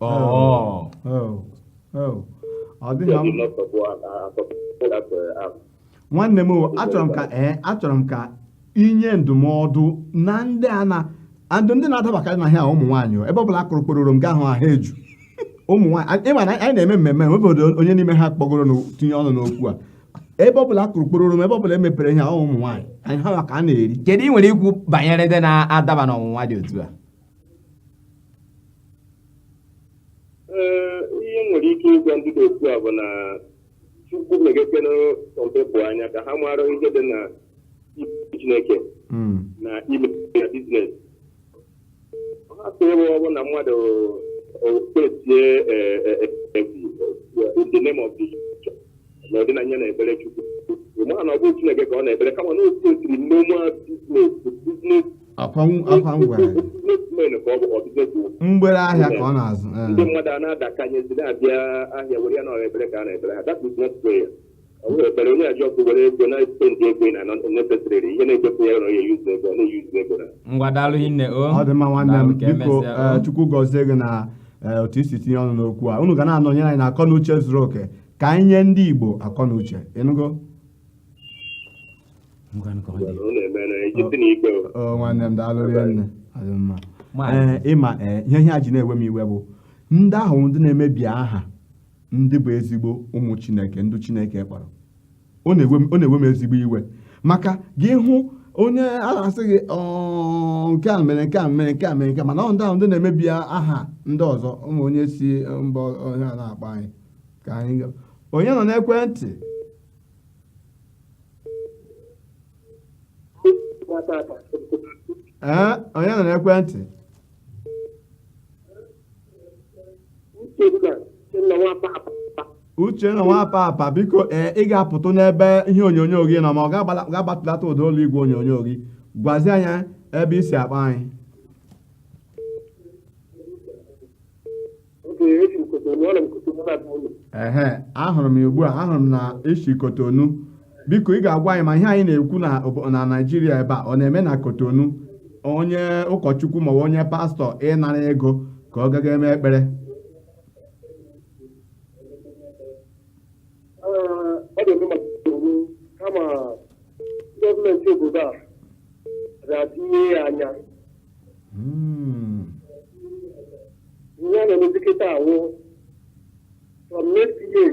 Oh. Oh. Oh. ọ dịghị nwanne m achọrọ m ka ee achọrọ m ka i nye ndụmọdụ na ndị a na-ad ndị na-adabakarị na ihe a ụmụ nwaanyị ebe ọ bụla a kụrụ kpororom ga-ahụ ha eju ụmụ nwaanyị ị ma na anyị na-eme mmemme nwebe onye n'ime ha kpọgoro na-etinye ọnụ n'okwu a ebe ọbụla a kụrụ kpororom ebe ọbụla e mepere ihe ahụ ụmụ nwaanyị ọ ha ka a na-eri kedu ihe ị nwere ikwu banyere ndị na-adaba n'ọnwụnwa dị otu a ihe m nwere ike ịgwa ndị dị otu a bụ na chukwu meghekere some people anya ka ha mara ihe dị na chineke hmm. na ime ya business n'ụdị na ya na-ekpere Chukwu mana ọ bụ Chineke ka ọ na-ekpere kama na otu otiri normal mgbere ahịa ka ọ na-azụ eh. ndị mmadụ a na-adakanyezi na-abịa ahịa were ya na ọ wụ ekpere ka a na-ekpere ha that is not prayer Ekpere onye ajọ ọkụ were ego na-espendi ego na necessary ihe na-ekpepụ ya ya yuzu ego ọ na-eyuzu ego na ngwa daalụ hinne o ọ dị mma nwanne m biko eh, chukwu gọzie gị na eh, otu i si tinye ọnụ n'okwu a unu ga na-anọnyere anyị na akọ na uche zuru oke ka anyị nye ndị igbo akọ na uche ị nụgo nwanne m daalụ rinne eh, ị ma ihe ihe a ji na-ewe m iwe bụ ndị ahụ ndị na-emebi aha ndị bụ ezigbo ụmụ chineke ndị chineke kpọrọ ọ na-ewe m ezigbo iwe maka gị hụ onye a na-asị gị nke a mere nke a mere nke a mere nke mana ọ ndị ahụ ndị na-emebi aha ndị ọzọ ụmụ onye si mba onye a na-akpọ anyị ka anyị onye nọ n'ekwentị ee onye nọ n'ekwentị uchenna nwa papa biko ee ị ga-apụtụ n'ebe ihe onyonyo gị nọ ma ị ga-agbatụlata ụda olu igwe onyonyo gị gwazie anyị ebe i si akpọ anyị ehe ahụrụ m ya ugbu a ahụrụ m na i si kotonu biko ị ga-agwa anyị ma ihe anyị na-ekwu na naijiria ebe a ọ na-eme na kotonu onye ụkọchukwu maọbụ onye pastọ ịnara ego ka ọ gaga eme ekpere kama gọọmenti obodo a ga-atinye ya anya ihe a na-emezi kịta wụ from next year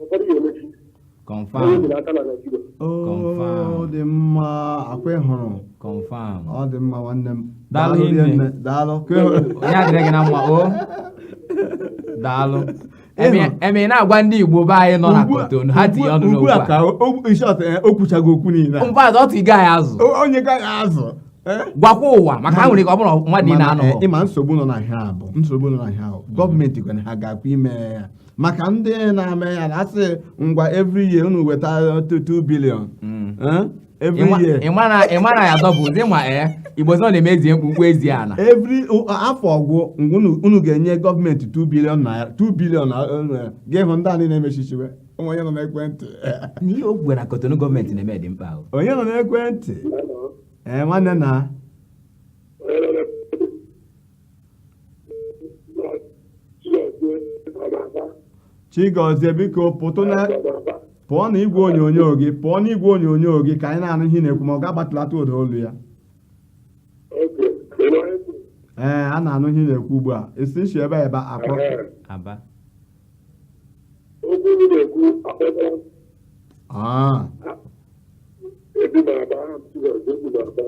ụfọdụ ya emechi onye confam nyere aka na naijiria oo Confirm. ọ dị mma ọkwa ị hụrụ confam ọ dị mma nwanne m Daalụ Daalụ hinne. hinne. daalụ Ka ị hụrụ- ya dịrị gị na mma o daalụ Ihe m- ihe m na-agwa ndị igbo be anyị nọ na Ugbu a- kotonu ha tinye ọnụ ugbu n'okwu a a ka o- o- in short, eh, o kwuchago okwu niile a. mba ọ tụghị anyị azụ O- onye gaghị azụ eh? gwakwa ụwa maka ha nwere ike ọ bụrụ mmadụ ị Mana, eh, na-anọ ịma nsogbu nọ na ihe a bụ nsogbu nọ na ihe a bụ gọọmenti kwere ha ga-akwa ime ya maka ndị na-eme ya na-asị ngwa every year unu weta 2 billion Mm. eh? every Ịma- year ịma na- ịma na ya dọbụ ụdị ma ee igbo sọ na-eme ezi mkpu mkpu ezi ana every o- afọ gwụ ngwa unu- unu ga-enye gọọmenti 2 billion naira 2 billion eh, gị hụ ndị a niile emechichiwe ụmụ onye nọ n'ekwentị n'ihe o kwuwe na kotonu gọọmenti na-eme dị mkpa ahụ onye nọ n'ekwentị ee nwanne nna chigozie biko pụtụ na pụọ na igwe onyonyo gị pụọ na igwe onyonyo gị ka anyị na-anụ ihe ị na-ekwu ma ị ga-agbatụlata ụda olu ya ee a na-anụ ihe ị na-ekwu ugbu a esi m shi ebe a ebe a akpọ aba okwu m na-ekwu akpọta Ah, ebi m na aba ahụ m si na-ekwu na aba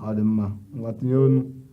ọ dị mma ngwa tinye ọnụ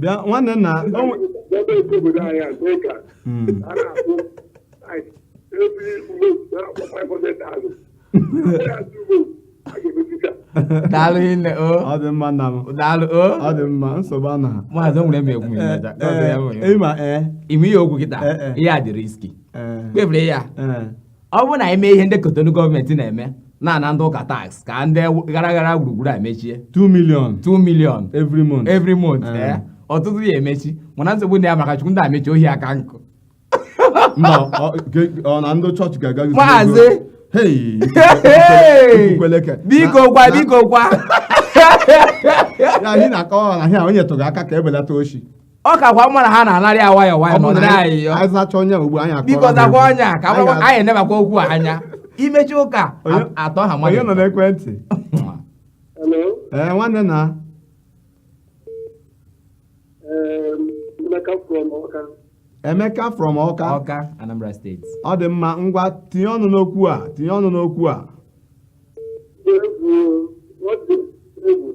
bịa nwanne nna daalụ hinne o ọ dị mma nna m daalụ o ọ dị mma nsogbu a na maazị nwere m egwu ịmaja ịma ee ime ihe okwu kịta Ee, ee. ihe a dị riski ee kpebiri ya ee ọ bụrụ na anyị mee ihe ndị kotonu gọọmenti na-eme na-ana ndị ụka tax ka ndị gara gara gburugburu a mechie 2 million 2 million every month every month ah. eh? ọtụtụ ha emechi mana nsogbu dị ya maka chukwu ndị a mechie ohi aka nkụ ọ na ndị chọọchị ga-aga maazị biko kwa biko kwa ya anyị na-akọwa na ahịa onye tụrụ aka ka ebelata oshi ọ kakwa mma na ha na-anarị ya nwayọọ nwayọọ na ọdịrị anyị yọ anyị zacha onye ugbu anyị akụọrọ biko ha zakwa egwu. onye a ka Anyị agbakwa- ga- anyị enebakwa okwu a anya imechi ụka Onye- a- atọ ha onye nọ mmadụ n'ekwentị Hello. ee nwanne na Um, Emeka from Ọka. emeka from ọka ọka anambra steeti ọ dị mma ngwa tinye ọnụ n'okwu a tinye ọnụ n'okwu a Egwu, ọ dị egwu.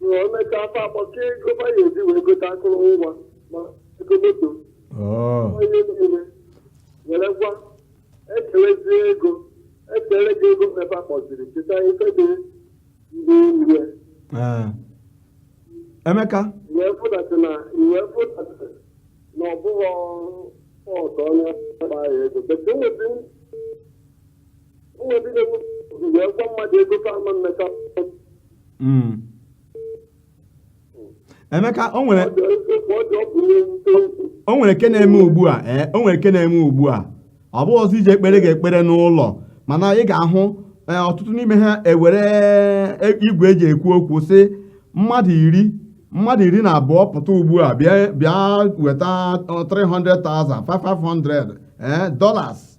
na emeka fa akpọka ego ma ya eji wee gote akụrụngwa ma ego moto Oh, onye niile werekwa ekerezie ego ekere gị ego mmepe akpọziri cheta ife dị ndị nri eh. Emeka, wee fụdatị na wee fụdatị na ọ bụghị otu onye ọkpa ya ego bete nwetị emeka o nwere o nwere nke na-eme ugbu a ee o nwere nke na-eme ugbu a ọ bụghịzi ije ekpere ga-ekpere n'ụlọ mana ị ga-ahụ ee, ọtụtụ n'ime ha ewere e- igwe eji ekwu okwu sị mmadụ iri mmadụ iri na abụọ pụta ugbu a bịa bịa weta ọ, 300,000 500 ee dollars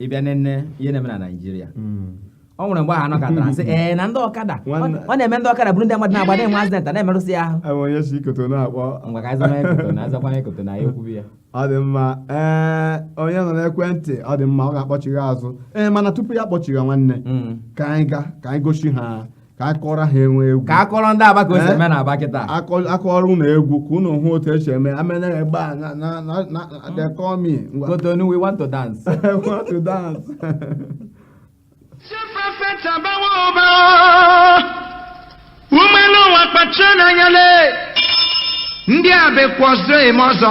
ị bịa nene ihe na-eme na naijiria hmm. o nwere mgbe ha nọkatara sị ee na ndị ọkada ọ na-eme ndị ọkada buru ndị mmadụ na-agba na-enwe accident na-emerụsị ha ahụ onye si kotonu akpọ ngwa ka a zama kotonu azakwa kotonu ya ekwubi ya ọ dị mma ee onye nọ n'ekwentị ọ dị mma ọ ga-akpọchigha azụ ee mana tupu ya akpọchigha nwanne hmm. ka anyị ga ka anyị gosi ha ka a kụọrọ ha enwe egwu ka a kụọrọ ndị aba ka o si eh? eme na aba kịta a kụọrọ ụnụ egwu ka ụnụ hụ otu e si eme amen n'ebe a na na na na they call me Kotonu we want to dance want to dance ụmụ elu ụwa kpachanụ anya le ndị abịakwa ọzọ eme ọzọ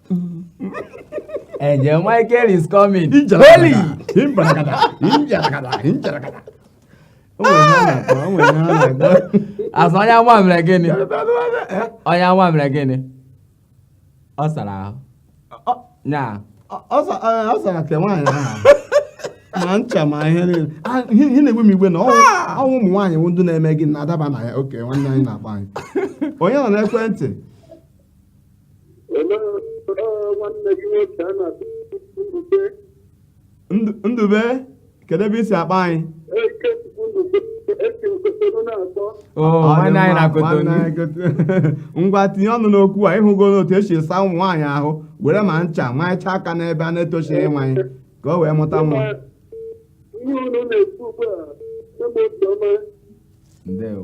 Angel Michael is coming. Holy! A sị onye nwa mere gịnị? Onye nwa mere gịnị? Ọ sara ahụ. Nya. Ọ sara ke nwaanyị ahụ. ma ncha ma ihe niile ihe na-egbu m iwe na ọ wụ ụmụ nwaanyị wụ ndị na-eme gịnị na-adaba na ya okay nwanne anyị na-agba anyị onye nọ n'ekwentị ndube kedu ebe i si akpọ anyị ngwa tinye ọnụ n'okwu a ịhụgo n'otu esi asa ụmụ nwaanyị ahụ were ma ncha maịcha aka n'ebe a na-etochighị nwaanyị ka o wee mụta nwa ndewo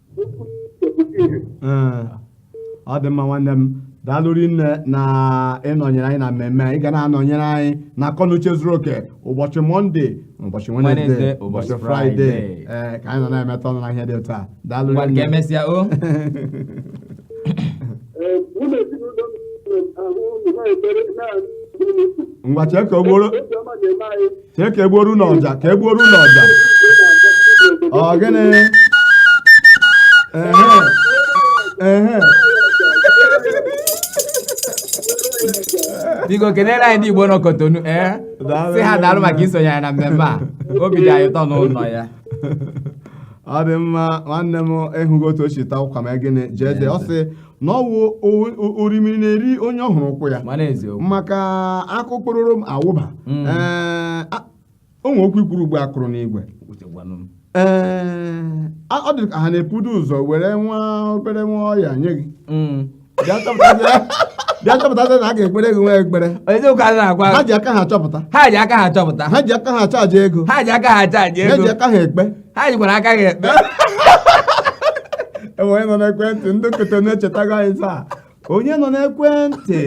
ọ dị mma nwanne m daalụ rinne na ịnọnyere anyị na mmemme ị ga na-anọnyere anyị na akọnuche zuru oke ụbọchị mọnde ụbọchị wenezde ụbọchị fraịde ee ka anyị nọ na-emetụ ọnụ na ihe dị otu a daalụ rinne ka emesịa o ngwa chee ka o gboro chee ka egbuoru na ọja ka egbuoru na ọja ọ gịnị ehe ehe biko kelere anyị ndị igbo nọ kotonu ee Daalụ. sị ha daalụ maka isonye anyị na mmemme a obi dị anyị ụtọ n'ụlọ ya ọ dị mma nwanne m ịhụgo otu o si taa ụkwa ma gịnị jee jee ọ sị na ọ wụ orimiri na-eri onye ọ hụrụ ụkwụ ya maka akụkpụrụrụ m awụba mm. o nwe okwu i kwuru ugbu a kụrụ n'igwe ee ọ dị ka ha na-eburu ụzọ were nwa obere nwa ọya nye gị mm. bịa chọpụtazi na a ga-ekpere gị nwa ekpere ha ji aka ha chọpụta ha ji aka ha chọpụta ha ji aka ha chaji ego ha ji aka ha chaji ego ha ji aka ha ekpe ha jikwara aka ha ekpe enwe onye nọ n'ekwentị ndị kotonu echetago anyị taa onye nọ n'ekwentị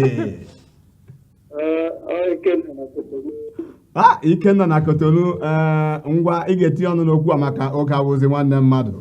a ikenna na kotonu ee ngwa ị ga-etinye ọnụ n'okwu a maka oge abụzi nwanne mmadụ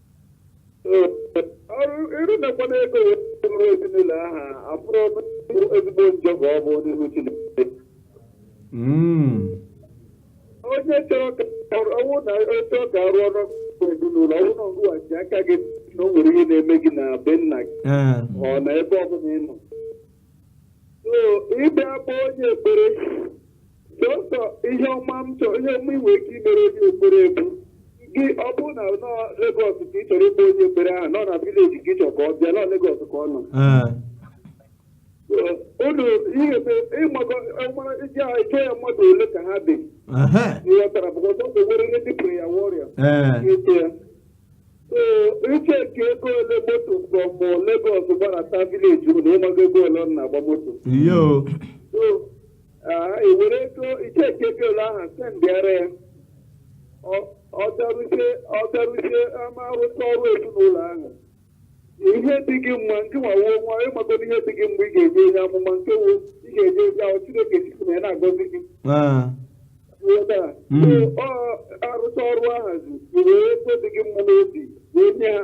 ịrụmekwana ego wee ezinụlọ aha abụrụ ezigbo njọ ka ọ bụ n'ihu Chineke hmm. onye chọrọ ka ọ wụ na oche ọ ga-arụ ọrụ ezinụlọ ọ wụ na ngụghachi aka gị na o nwere ihe na-eme gị na be nna gị eh. ọ na ebe ọbụla ị nọ ị bịa bụ onye ekpere sọsọ ihe ọma m chọrọ ihe ọma i nwe ike imere onye ekpere bụ gị ọ bụrụ na nọ Legọs ka ị chọrọ ịkpọ onye ekpere ahụ nọ na vileji ka ị chọrọ ka ọ bịa nọ Legọs ka ọ nọ ee unu ihe bụ ịmago ọmara iji ahụ ịchọ ya mmadụ ole ka ha dị ehe ịghọtara bụ ọzọ bụ nwere ihe dịpụrụ ya wọrịa ee ga-eche ya ee iche nke ego ole moto from Legọs gbarata vileji unu ịmago ego ole ọ na-agba moto o So, Ah, i were ego i cheki ego ole ahụ sendịara ya Ọ- ọ bịaruzie ọ bịaruzie ama arụcha ọrụ ezinụlọ ahụ ihe dị gị mma nke nwawo nwa ịmagodo ihe dị gị mma ị ga-enye onye amụma nke wo ị ga-enye onye ahụ chineke si na ya na-agọzi gị Ah, Ghọta? Mm. So, ọ arụcha ọrụ ahazi i were ego dị gị mma n'obi wee nye ha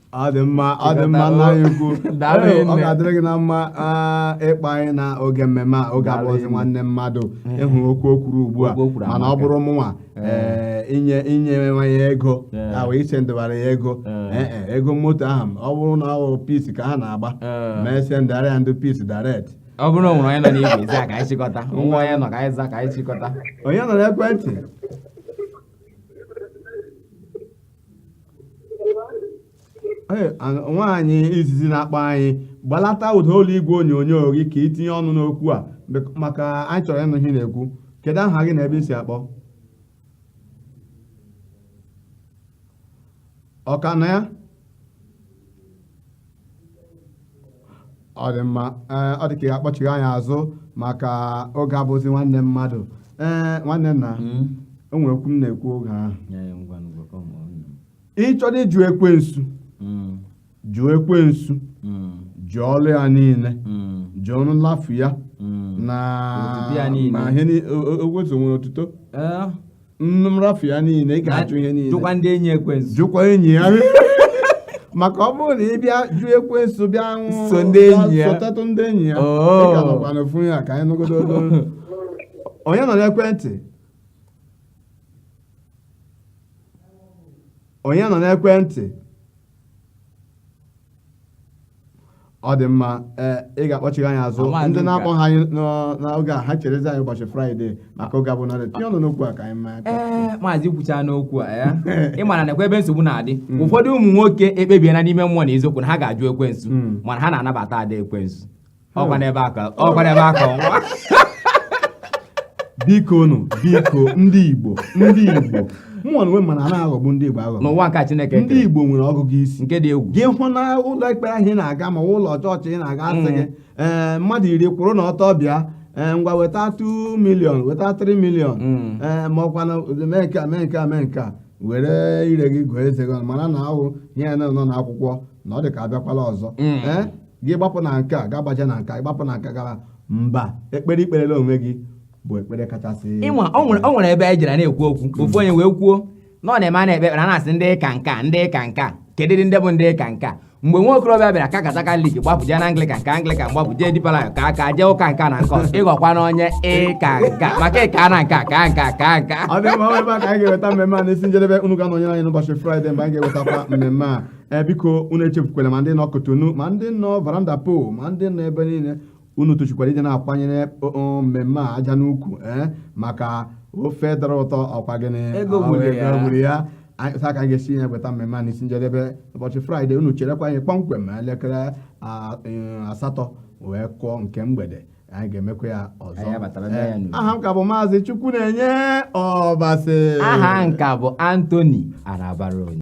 ọ dị mma ọ dị mma nna anyị ukwu Daalụ Ee, ọ nne. ga-adịrị gị na mma ah, ịkpọ anyị na oge mmemme a oge Daalụ abụzi nne. nwanne mmadụ ị hụrụ okwu o kwuru ugbu a Okwu o kwuru mana ọ amaka. bụrụ mụnwa ee, inye inye nwa ya ego Ee. ahụ i sendịbara ya ego Ee. Ee, ee, ego moto ahụ ọ bụrụ na ọ bụ Peace ka ha na-agba Ee. m esendịara ya ndị Peace direct ọ bụrụ na o nwere onye nọ n'ekwentị a ka anyị chịkọta nwa onye nọ ka anyị za ka anyị chịkọta onye nọ n'ekwentị nwaanyị izizi na-akpọ anyị gbalata ụda olu igwe onyonyo gị ka i tinye ọnụ n'okwu a maka anyị chọrọ ịnụ ihe ị na-ekwu kedu aha gị na ebe i si akpọ oku na ya ọ dị mma ee ọ dị ka ị ga-akpọchigha anyị azụ maka oge abụzi nwanne mmadụ ee nwanne nna o nwere okwu m na-ekwu oge ahụ ị chọrọ ịjụ ekwensu jụọ ekwensu jụọ ọlụ ya niile jụọ nlafu ya na Otuto ya niile. ma ihe ni- o- o- o- o- nwere otuto Ee, nrafu ya niile ị ga-ajụ ihe niile jụkwa ndị enyi ekwensu jụkwa enyi ya maka ọ bụrụ na ị bịa jụ ekwensu bịa nwụ So ndị enyi ya. sotetụ ndị enyi ya Oh. ị ka nọkwa n'ofu ya ka anyị nụgodo olu onye nọ n'ekwentị onye nọ n'ekwentị ọ dị mma ee ị ga-akpọchigha anyị azụ Awa ndị Luka. na-akpọghị anyị n'ọ- n'oge a ha cherezi anyị ụbọchị fraịde maka oge abụ narị tinye ọnụ n'okwu a ka anyị maa aka. ee maazị kwuchaa n'okwu a ya ị mara na nekwa ebe nsogbu na-adị ụfọdụ ụmụ nwoke ekpebiela n'ime mmụọ na eziokwu na ha ga-ajụ ekwensu Mm. mana ha na-anabata ada ekwensu ọkwa n'ebe a ka ọkwa n'ebe a ka ọnwa biko nụ biko ndị igbo ndị igbo mụnwa onwe m ma na a na-aghọgbu ndị igbo aghọgbu n'ụwa nke chineke ndị igbo nwere ọgụgụ isi nke dị egwu gị hụ na ụlọ ekpere ahụ ị na-aga ma ụlọ chọọchị ị na-aga a sị gị mm. ee mmadụ iri kwụrụ na ọtọ bịa ee ngwa weta 2 million weta 3 million mm. ee ma ọkwa na mee nke a mee nke a mee nke a were ire gị gụọ eze gị mara na ọ wụ ihe nọ n'akwụkwọ na ọ dị ka abịakwala ọzọ mm. gị gbapụ na nke a gị gbaje na nke a gbapụ na nke a gara mba ekpere i kperela onwe gị bụ ekpere kachasị ịnwa o nwere o nwere ebe anyị jere na-ekwu okwu ofu onye wee kwuo na ọ na-eme a na-ekpe ekpere a na-asị ndị ka nka ndị ka nka kedu ndị bụ ndị ka nka mgbe nwa okorobịa bịara kakata Katọlik gbapụ jee na anglikan ka anglikan gbapụ jee Deeper Life ka aka jee ụka nke a na nke ọzọ ị ghọkwana onye ịka nka maka ị kana nka ka nka ka nka ọ dị mma ọ bụ ebe a ka anyị ga-eweta mmemme a n'isi njedebe unu ga-anọnyere anyị n'ụbọchị fraịde mgbe anyị ga-ewetakwa mmemme a ee biko unu echefukwala ma ndị nọ Kotonu ma ndị nọ Fernando Po ma ndị nọ ebe niile unu tosikwara ịdị na-akwanyere mmemme a aja n'ukwu ee maka ofe dara ụtọ ọ kwa gịnị Ego Ọ, gburu ya. gburu ya ebe a ka anyị ga-esi weta mmemme a n'isi njedebe ụbọchị fraịde unu cherekwa anyị kpọmkwem ma elekere a- eh, asatọ wee kụọ nke mgbede anyị ga-emekwa ya ọzọ Anyị abatara na ya n'udo. aha m ka bụ maazị Chukwunenye Ọbasị aha m ka bụ Anthony Anabaraonye